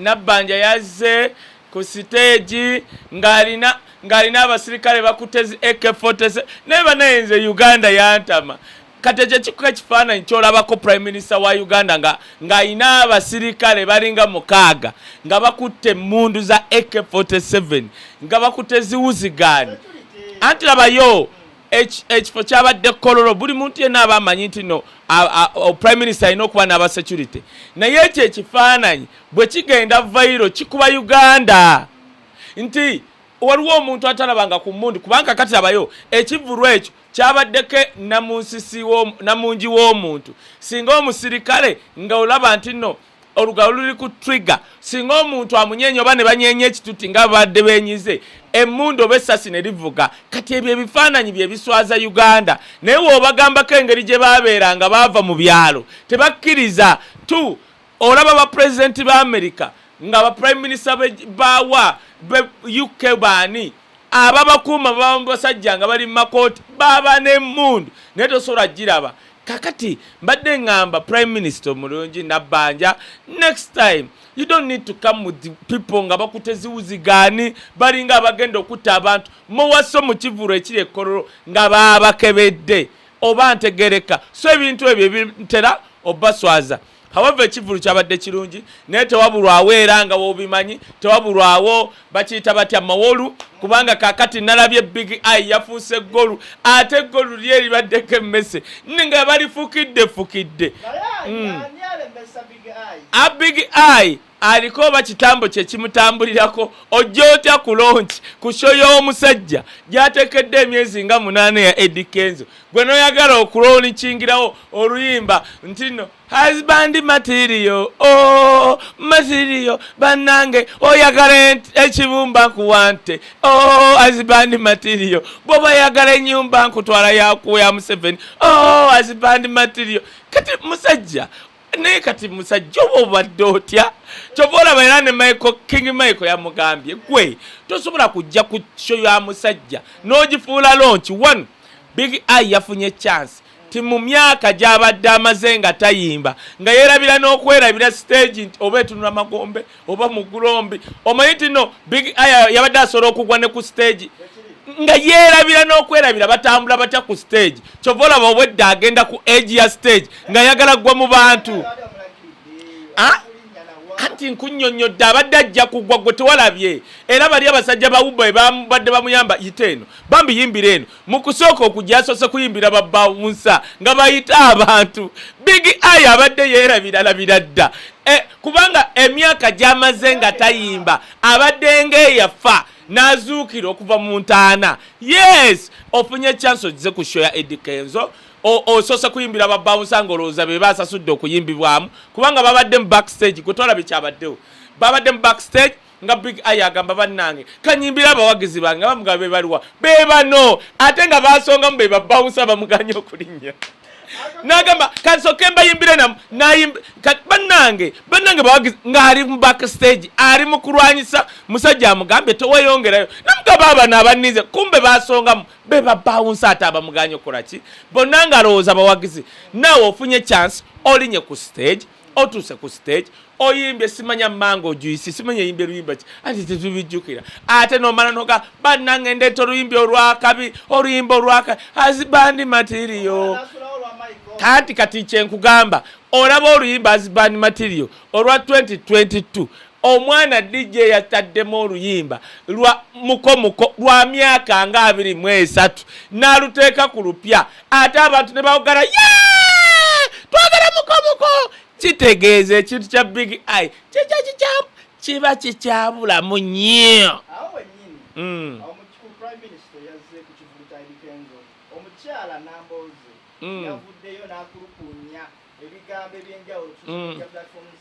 Nabbanja yazze ku siteegi ng'alina ng'alina abasirikale bakutte zi AK47 naye banaye nze Uganda yantama kati ekyo kikuka ekifaananyi kyolabako prime minister wa uganda nga ng'alina abasirikale balinga mukaaga nga bakutte emmundu za ak47 nga bakutte ziwuzigaani anti labayo ekifo kyabadde kololo buli muntu yenna aba amanyi nti no prime minister alina okuba n'aba security naye ekyo ekifaananyi bwe kigenda vairo kikuba uganda nti waliwo omuntu atalabanga ku mundi kubanga kati abayo ekivulu ekyo kyabaddeko namunsisi namungi w'omuntu singa omusirikale nga olaba nti no olugalo luli ku trigger singa omuntu amunyenya oba ne banyenya ekituti nga babadde benyize emmundu oba essasi ne livuga kati ebyo ebifaananyi bye biswaza uganda naye woobagambako engeri gye baabeera nga baava mu byalo tebakkiriza t olaba bapulezidenti ba amerika nga baprime minisita baawa be uk baani ababakuuma baba mubasajja nga bali mumakooti baba nemundu naye tosobola giraba kakati mbadde ngamba prime minister omulungi nabbanja next time you don't need to come with people nga bakute ziwuzigaani balinga abagenda okutta abantu muwaso mu kivulu ekiri ekkololo nga baabakebedde oba ntegereka so ebintu ebyo ebintera obaswaza however ekivulu kyabadde kirungi naye tewabulwawo era nga wobimanyi tewabulwawo bakiyita batya mawolu kubanga kakati nalabye big i yafuuse golu ate golu lye libaddeko emmese nga balifukidde fukidde mm. a big i aliko oba kitambo kye kimutambulirako ojja otya ku lonki ku sho y'omusajja gyatekedde emyezi nga munaana ya edi kenzo gwe noyagala okulonikingirawo oluyimba ntino husband matirio o oh, matirio bannange oyagala ekibumba nkuwante o oh, husband matirio bwoba yagala enyumba nkutwala yakuwa ya museveni o oh, husband matirio kati musajja naye kati musajja oba obadde otya kyova olaba era ne michael king michael yamugambye gwe tosobola kujja ku sho ya musajja n'ogifuula lonki one big i yafunye chance ti mu myaka gy'abadde amaze nga tayimba nga yeerabira n'okwerabira siteegi nti oba etunula magombe oba mugulombi omanyi tino big aya yabadde asobola okugwa ne ku stage nga yeerabira n'okwerabira batambula batya ku stage kyova olaba obwedda agenda ku age ya stage nga yagala ggwa mu bantu anti ah? nkunyonyodde abadde ajja kugwa gwe tewalabye era bali abasajja bawuba ebabadde bamuyamba yite eno bambi yimbira eno mu kusooka okujja yasoose kuyimbira babawunsa nga bayita abantu big eye abadde yeerabiralabira dda e, kubanga emyaka gyamaze nga tayimba abadde ngaeyafa n'azuukira okuva mu ntaana yes ofunye chance ogize ku sho ya edikenzo osoose kuyimbira babawunsa nga olowooza be baasasudde okuyimbibwamu kubanga babadde mu backstage gwe tolabye kyabaddewo babadde mu backstage nga big eye agamba bannange kanyimbira abawagizi bange nga bamugaba bebaliwa bebano ate nga basongamu bebabawusa bamuganye okulinnya nagamba kansoke mbayimbire namu bannange bannange bawagizi ng'ali mu back stage ali mu kulwanyisa musajja amugambye teweyongerayo namugaba abana abaninze kumbe basongamu be babawunsi ate abamuganye okukola ki bonna ngalowooza bawagizi naawe ofunye chance olinye ku stage otuuse ku stage oyimbye simanya mango juisi simanya yimbye luyimba ki anti tetubijjukira ate nomala noga bannange ndeeta oluyimbi olwakabi oluyimba olwaka azibandi matirio kanti kati kyenkugamba olaba oluyimba azibandi matirio olwa 2022 Omwana DJ yataddemu oluyimba lwa Muko Muko lwa myaka nga abiri mu esatu n'aluteeka ku lupya ate abantu ne bawogala yee twagala Muko Muko kitegeeza ekintu kya Big Eye kikya kikya kiba kikyabulamu nnyo. Mm. Omukyala Nambooze mm. yavuddeyo n'akulukuunya ebigambo eby'enjawulo ku mm. social platforms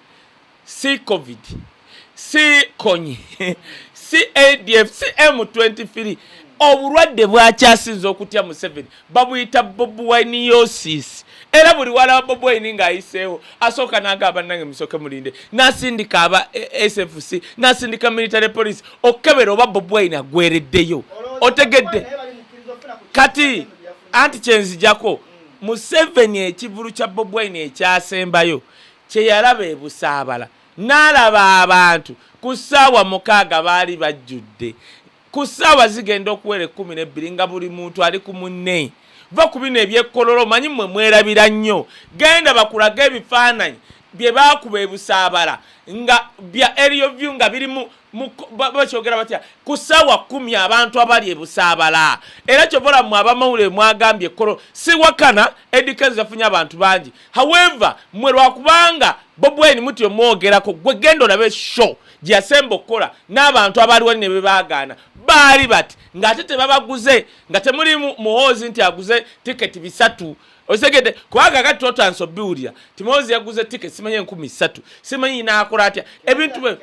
si covid si konyi si adf si m23 obulwadde bwakyasinza okutya museveni babuyita bobuwaini yosis era buli wala wa bobuwaini ng'ayiseewo asooka naaga abannange musooke mulinde nasindika aba eh, sfc nasindika military police okukebera oba bobuwaini agwereddeyo otegedde kati anti kyenzijako museveni ekivulu kya bobuwaini ekyasembayo Kye yalaba e Busaabala, n'alaba abantu ku ssaawa mukaaga baali bajjudde, ku ssaawa zigenda okuwera ekkumi n'ebbiri nga buli muntu ali ku munne. Vva ku bino eby'ekkololo, mmanyi mmwe mwerabira nnyo. Genda bakulage ebifaananyi bye baakuba e Busaabala nga bya Aerial View nga biri mu, mu, ba, bakyogera batya, ku ssaawa kkumi abantu abali e Busaabala. Era kyova olaba mmwe abamawulire mwagambye ekkololo. Siwakana, Eddy Kenzo yafunye abantu bangi, however mwe lwakubanga bob wine muti omwogerako gwe genda olabe show gyeyasemba okukola n'abantu abaaliwo ne bebaagaana baali bati ng'ate tebabaguze nga temuli muhoozi nti aguze tiketi bisatu osegedde kubanga kati totansa obiwulira ti muhoozi yaguze tiketi simanyi enkumi ssatu simanyi naakola atya ebintu bwe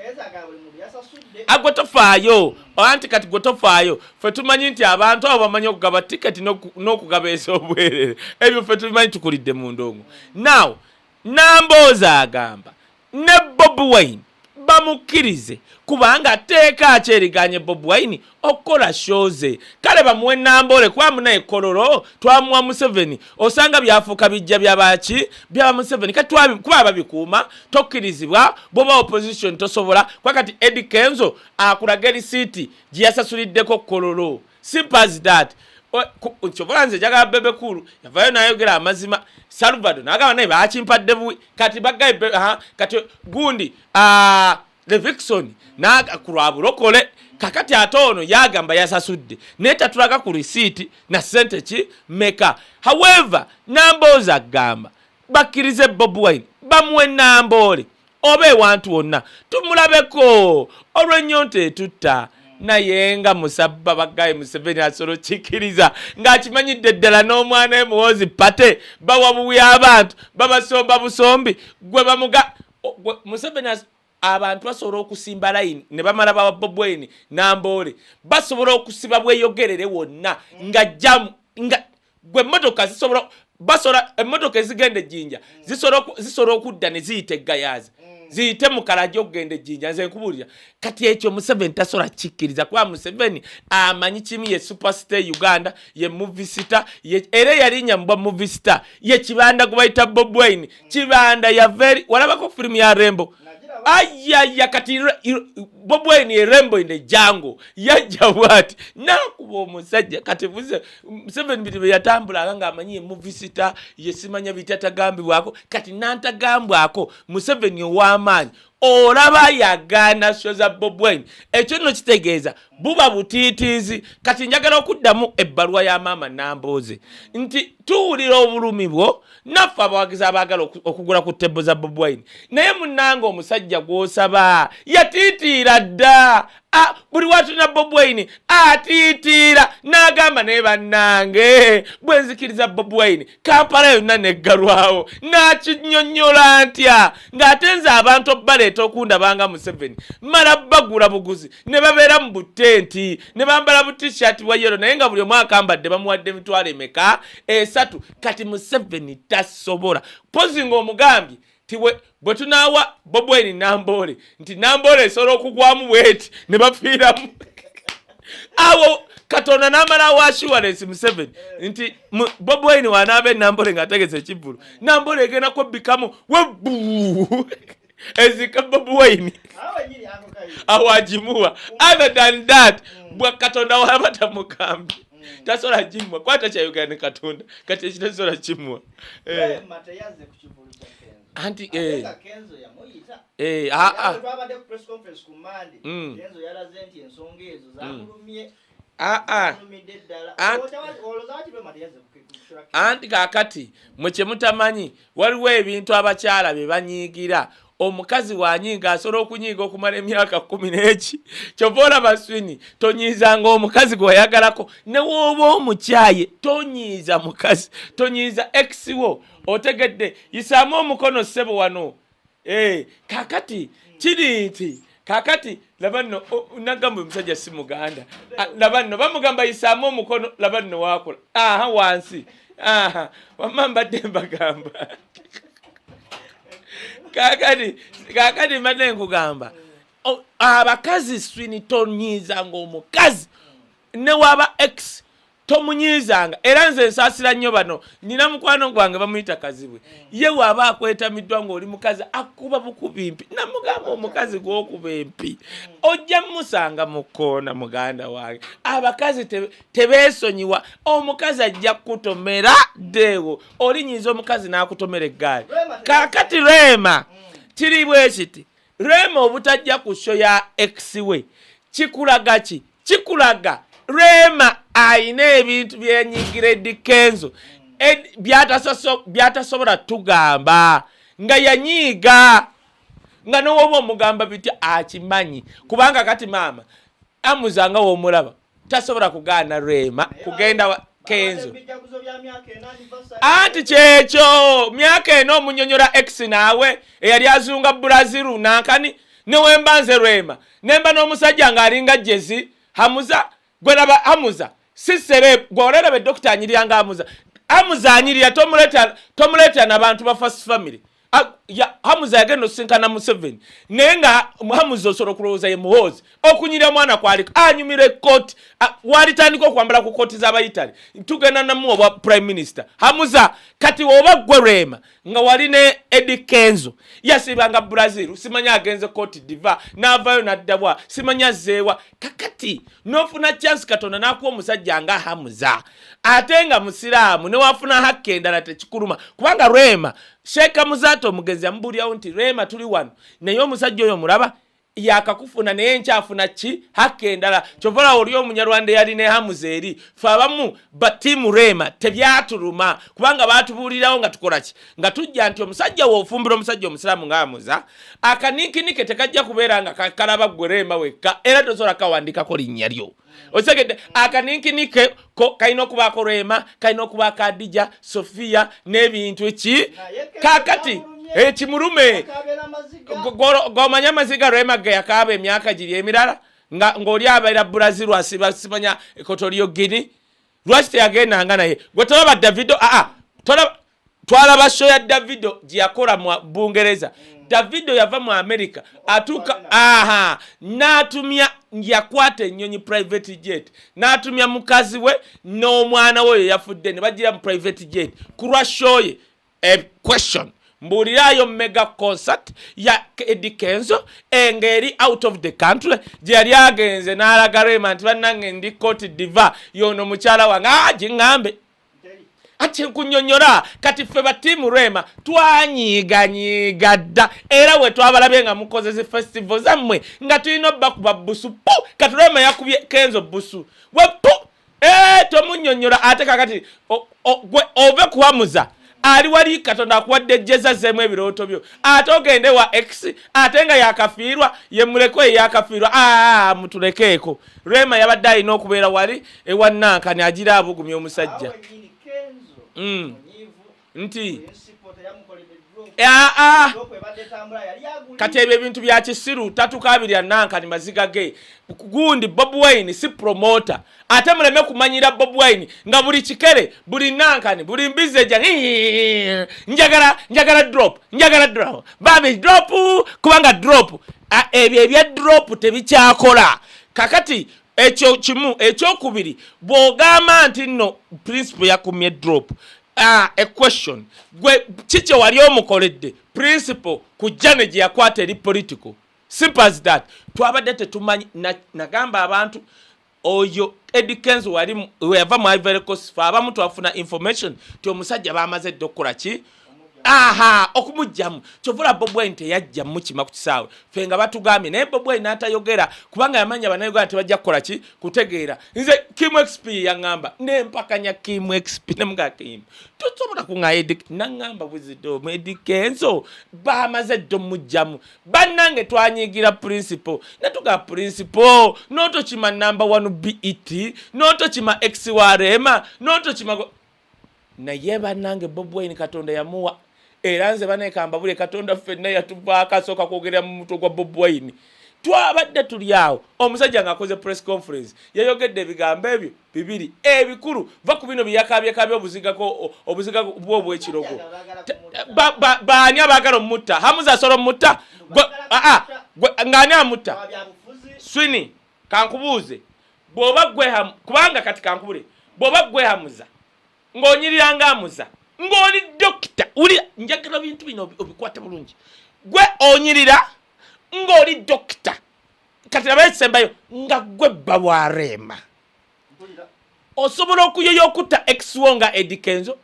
agwe tofaayo anti kati gwe tofaayo ffe tumanyi nti abantu abo bamanyi okugaba tiketi n'okugaba ez'obwerere ebyo ffe tumanyi tukulidde mu ndongo now nambooza agamba ne bobi wine bamukkirize kubanga tteeka akyeriganye bobi wine okukola shoze kale bamuwe namboole kuba munaye kololo twamuwa museveni osanga byafuuka bijja byabaki byaba museveni kati kuba babikuuma tokkirizibwa bwoba opposition tosobola kuba kati edi kenzo akulage lisiiti gye yasasuliddeko kololo simpas dat kyobola nze njagala bebe kulu yavayo nayogera amazima salvado nagamba naye bakimpadde buwi kati bagaye kati gundi levixon ku lwa bulokole kakati ate ono yagamba yasasudde naye tatulaga ku lisiiti na sente ki meka however namboozi agamba bakkirize bob wine bamuwe namboole oba ewantu wonna tumulabeko olw'ennyonta etutta naye nga musabba bagaye museveni asolo kikiriza ng'akimanyidde ddala n'omwana we muwozi pate bawa buwi abantu babasomba busombi gwe bamuga museveni abantu basobola okusimba layini ne bamala bawa bobweni namboole basobola okusiba bweyogerere wonna nga jamu nga gwe emmotoka zisobola basola emmotoka ezigenda ejjinja zisobola okudda ne ziyita eggayaazi ziyite mukalaja okugenda ejjinja nze nkubuulira kati ekyo museveni tasobola kikkiriza kuba museveni amanyi kimu ye superstar e uganda ye muvisita era eyalinya mubwa muvisita ye kibanda gwebayita bobwain kibanda yaveri walabako firimu ya rembo ayaya kati bobwain ye rembo in the jango yajja bwati nakuba omusajja kati Museveni bino bye yatambulanga ng'amanyi ye muvisita ye simanya bitatagambibwako kati nantagambwako Museveni ow'amaanyi olaba yagaana sho za bobwain ekyo nno kitegeeza buba butiitiizi kati njagala okuddamu ebbaluwa ya maama nambooze nti tuwulira obulumi bwo naffe abawagizi abaagala okugula ku tebbo za bobwain naye munanga omusajja gw'osaba yatiitiira dda Ah, buli watulina bobwaini atiitiira n'agamba naye bannange bwe nzikiriza bobwaini kampala yonna neggalwawo n'akinyonnyola ntya ng'ate nze abantu obbaleeta okundabanga museveni mala bagula buguzi ne babeera mu butenti ne bambala butishiati bwa yero naye nga buli omu akambadde bamuwadde emitwalo emeka esatu kati museveni tasobola pozi ng'omugambye bwe tunaawa bobweni namboole nti namboole esobola okugwamu bweti ne bafiiramu awo katonda n'amala awa assurance museveni nti bobweni wanaaba enamboole ng'ategeza ekivvulu namboole egenda kwebbikamu webbu ezika bobweni awagimuwa other than that mm. bwa katonda wabatamukambi tasobola kimwa kwata kya uganda katonda kati ekitasobola kimwa eh. anti eh. eh, ah, ah. mm. ah, anti kakati mwe kyemutamanyi waliwo ebintu abakyala bye banyiigira omukazi wanyiiga asobola okunyiiga okumala emyaka kumi neki kyova olaba swini tonyiizanga omukazi gwewayagalako newooba omukyaye tonyiiza mukazi tonyiiza exiwo otegedde yisaamu omukono ssebo wano eh, kakati kiri nti kakati laba nno nagamba omusajja si muganda laba nno bamugamba yisaamu omukono laba nno wakola aha wansi aha wamma mbadde mbagamba kakati kakati mbadde nkugamba abakazi swinitonyiza ngaomukazi newaba x tomunyiizanga era nze nsaasira nnyo bano nina mukwano gwange bamuyita kazibwe ye waaba akwetamiddwa ng'oli mukazi akuba bukuba empi namugamba omukazi gwokuba empi ojja mumusanga mu kkoona muganda wange abakazi tebeesonyiwa omukazi ajja kukutomera ddeewo olinyiiza omukazi n'akutomera eggaali kakati reema kiri bwe kiti Rema obutajja ku show ya ex we kikulaga ki? Kikulaga Rema ayina ebintu byenyigira Eddy Kenzo byatasobola tugamba nga yanyiiga nga nowoba omugamba bitya akimanyi kubanga kati maama amuza nga womulaba tasobola kugaana rema kugenda wa kenzo anti kyekyo myaka ena omunyonyola ex naawe eyali azunga bulaziru nankani newemba nze rema nemba n'omusajja ng'alinga jezi hamuza gweraba hamuza sisere gweolerebe dokita anyirya nga hamuza hamuza anyirya tomuleeta nabantu ba fast family hamuza yagenda osinkana museveni naye nga hamuza osobola okulowooza ye muhoozi okunyira omwana kwali anyumira ekkooti walitandika okwambala ku kkooti z'abayitale tugenda namu obwa prime minister hamuza kati oba ggwe lwema nga wali ne edi kenzo yasiibanga brazil simanyi agenze kkooti diva n'avaayo n'addabwa simanyi azzeewa kakati n'ofuna chance katonda n'akuwa omusajja nga hamuza ate nga musiraamu newafuna hakka endala tekikuluma kubanga rema sheeka muzaata omugenzi yamubuulirawo nti rema tuli wano naye omusajja oyo muraba yakakufuna naye nkyafuna ki hakka endala kyovalawo oli omunyarwanda eyali ne hamuza eri fe abamu batiimu rema tebyatuluma kubanga baatubuulirawo nga tukola ki nga tujja nti omusajja wofumbira omusajja omusiraamu nga amuza akaniikinike tekajja kubeera nga kakalaba ggwe rema wekka era tosobola kawandikako linnya lyo okitegedde akaninkini ke kalina okubaako rema kalina okuba kadija sofiya n'ebintu ki kakati ekimulume eh, gomanya amaziga rema ge yakaaba emyaka giri emirala ng'oli abeera brazil asiba simanya ekotoliyo gini lwaki teyagendanga naye gwe tolaba davido aa ah, ah, tolaba twalaba show ya davido gyeyakola mu bungereza mm. davido yava mu america atuuka aha n'atumya yakwata ennyonyi private jet n'atumya mukazi we n'omwana we oyo yafudde ne bagira mu private jet ku lwa show ye a question mbuuliraayo mega concert ya edi kenzo engeri out of the country gye yali agenze n'alaga rema nti bannange ndi koti diva yono mukyala wange agiŋŋambe ah, ati nkunyonyola kati ffe ba tiimu rwema twanyiiganyiiga dda era we twabalabye nga mukoze zi festival zammwe nga tulina obakuba busu pu kati rwema yakubye kenzo busu we pu eh, tomunyonyola ate kakati ove kuwamuza ali wali katonda akuwadde jeza zemu ebirooto byo ate ogende wa x ate nga yakafiirwa yemuleko eyakafiirwa aa mutulekeeko rema yabadde alina okubeera wali ewanankani agira abugumya omusajja mm. nti aa kati ebyo ebintu bya kisiru tatukaabirya nankani maziga ge gundi bob wine si promota ate muleme kumanyira bob wine nga buli kikere buli nankani buli mbizi eja njagala njagala drop njagala drop babi drop kubanga drop ebyo ebya drop tebikyakola kakati ekyo kimu ekyokubiri bwogamba nti nno principle yakumye drop uh, a question gwe kikye wali omukoledde principle ku jane gye yakwata eri political simple as that twabadde tetumanyi nagamba na abantu oyo Eddie Kenzo wali weyava mu Ivory Coast fa abamu twafuna information ti omusajja bamaze dde okukola ki aha okumujjamu kyova olaba Bobi Wine teyajja mukima ku kisaawe fe nga batugambye naye Bobi Wine n'atayogera kubanga yamanya abanauganda tebajja kukola ki kutegeera nze Kim XP yaŋŋamba nempakanya Kim XP nemuga Kim tosobola kuŋa Eddie naŋŋamba buzido mu Eddie Kenzo bamaze dde omujjamu bannange twanyiigira principle netuga principle notokima number one bet notokima ex wa rema notokima naye bannange bob wine katonda yamuwa era nze banekamba buli katonda ffenna yatuvaako asooka kwogerera mu mutwe gwa bob wine twabadde tuli awo omusajja ng'akoze press conference yayogedde ebigambo ebyo bibiri ebikulu eh, va ku bino byeyakaabyekaabya obuzigako obuziga bwe obwekirogo baani abaagala omutta hamuza asobola omutta ng'ani amutta swini kankubuuze bw'oba gwehamu kubanga kati kankubule bw'oba gwehamuza ng'onyirira nga amuza ng'oli dokita wuli njagala bintu bino obikwate bulungi gwe onyirira ng'oli dokita kati nabaye ekisembayo nga gwe bba wa reema osobola okuyoya okutta exwo nga edikenzo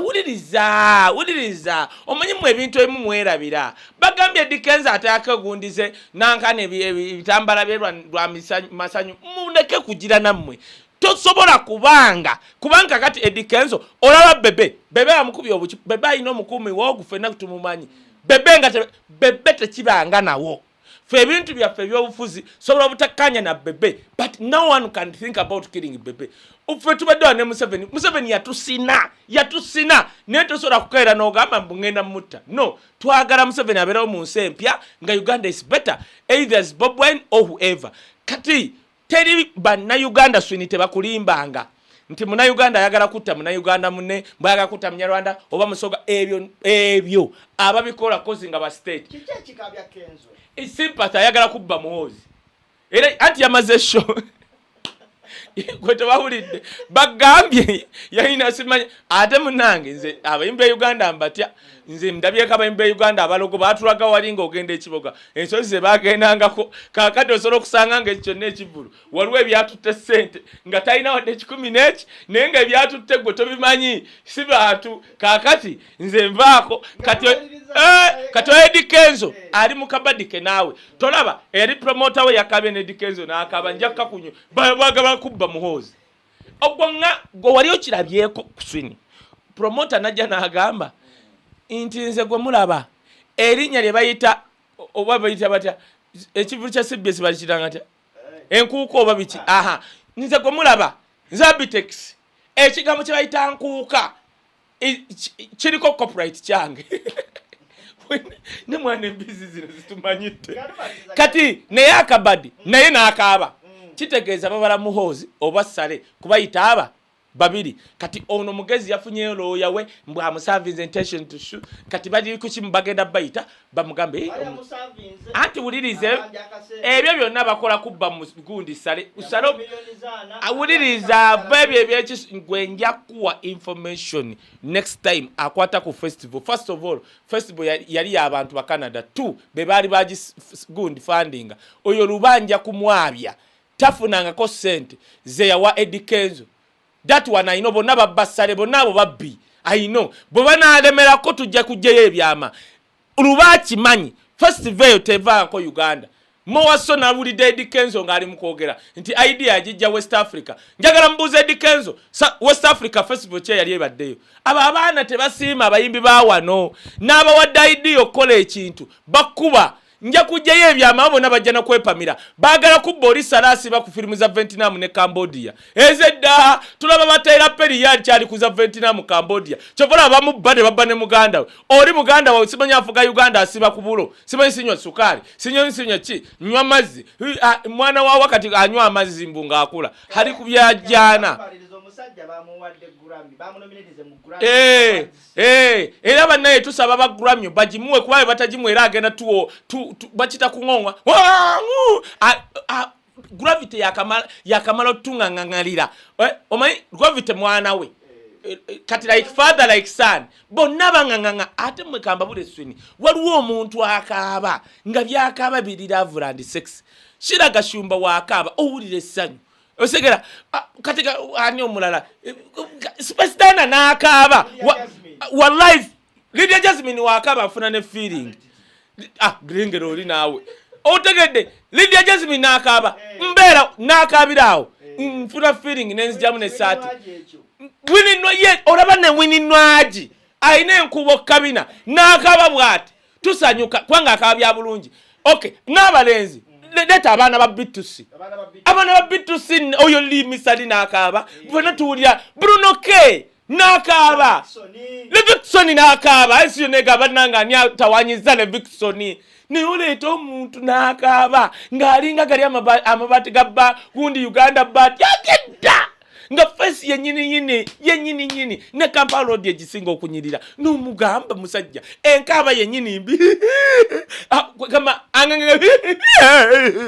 wuliriza wuliriza omanyi mu ebintu ebimu mwerabira bagambye edikenzo atakegundize nankana ebitambala bye lwa masanyu muleke kugira nammwe tosobola kubanga kubanga kati edikenzo olaba bebe bebe amukubye obuki bebe alina omukuumi woogufe nakutumumanyi bebe nga bebe tekibanga nawo fe ebintu byaffe ebyobufuzi sobola obutakkaanya na bebe but no one can think about killing bebe fe tubadde wa ne museveni museveni yatusina yatusina naye tosobola kukaera n'ogamba mbu ngenda mutta no twagala museveni abeerawo mu nsi empya nga uganda is better either is bob wine or whoever kati teri bannayuganda swini tebakulimbanga nti munayuganda ayagala kutta munayuganda mune bwayagala kutta munyarwanda oba musoga ebyo ebyo ababikola kozi nga bastate sympath ayagala kubba muwozi era anti yamaze sho gwe tebawulidde bagambye yalina simanya ate munange nze abayimbi e uganda mbatya nze ndabyeko abaimi ba uganda abalogo batulaga wali nga ogenda ekiboga ensozi zebagendangako kakati osobola okusanga nga ekyo kyonna ekivulu waliwo ebyatutte sente nga talina wadde ekikumi neki naye nga ebyatutte gwe tobimanyi si bantu kakati nze nvaako kati eh, oedi kenzo ali mukabadike naawe tolaba eri promota we yakabye nedi kenzo nakaba njakkakunyo bwagaba kubba muhoozi ogwo nga gwe wali okirabyeko kuswini promota najja nagamba nti nze gwe mulaba erinnya lye bayita oba bayita batya ekivulu kya cbs bakitanga tya enkuuka oba biki aha nze gwe mulaba nze abitex ekigambo kye bayita nkuuka kiriko copyright kyange ne mwana embizi zino zitumanyidde kati naye akabadi naye n'akaaba mm. kitegeeza babala muhoozi oba sale kubayita aba babiri kati ono mugezi yafunyeyo looya we mbwamusavinze intention to shoot kati bali kukimu bagenda bayita bamugambe eh, anti wulirize ebyo byonna bakola kubba mugundi sale usale awuliriza ava ebyo ebyekigwe nja kuwa information next time akwata ku festival first of all festival yali yabantu bacanada t be baali bagigundi fundinga oyo lubanja kumwabya tafunangako sente zeyawa edikenzo that one ayino bonna babba ssale bonna abo babbi ayino bwe banaalemerako tujja kujjayo ebyama luba akimanyi festiva eyo tevaako uganda mowaso nawulidde edi kenzo ng'ali mu kwogera nti idea agijja west africa njagala mubuuza edi kenzo west africa festival kye yali ebaddeyo abo abaana tebasiima abayimbi ba wano n'abawadde idea okukola ekintu bakkuba nja kujjayo ebyama bona bajja nakwepamira bagala kubba oli salasi ba ku firimu za ventinamu ne cambodia ezedda tulaba batayira peri yali kyali kuza ventinamu cambodia kyovola abamu bba ne babba ne muganda we oli muganda wawe simanyi afuga uganda asiba ku bulo simanyi sinywa sukaali sinyoni sinywa ki nywa mazzi mwana wa wakati anywa amazzi mbu ngaakula hali ku byajjaana eh. Eh, era banaye tusaba ba Grammy bagimuwe kuba bwe batagimuwe era agenda tuwo tu, tu, bakita kung'ongwa gravity yakamala yakamala otung'ang'ang'alira eh, omanyi gravity mwana we eh, eh, kati like father like son bonna bang'ang'ang'a ate mwe kambabula eswini waliwo omuntu akaaba nga byakaaba biri love and sex shira gashumba wakaaba owulira essanyu osegera ah, kati ani omulala eh, sipesitana n'akaaba wallahi lidia jasmine wakaaba afuna ne feeling ah lengera oli naawe otegedde lidia jasmine n'akaaba eh. mbeera n'akaabira awo eh. nfuna feeling nenzijamu nesaati wininwa ye olaba ne wininwagi alina enkuba okukabina n'akaaba bwati tusanyuka kubanga akaba bya bulungi okay n'abalenzi leeta abaana ba bitusi abaana ba bitusi oyo limisali n'akaaba bona tuwulira bruno k n'akaaba levikisoni n'akaaba esiyo nega bananga ani atawanyiza levikisoni naye oleeta omuntu n'akaaba ng'alinga gali amabaati ga ba gundi uganda baati agedda nga fesi yenyininyini yenyininyini ne kampala odi egisinga okunyirira nomugamba musajja enkaaba yenyini mbi ah, gamba anganganga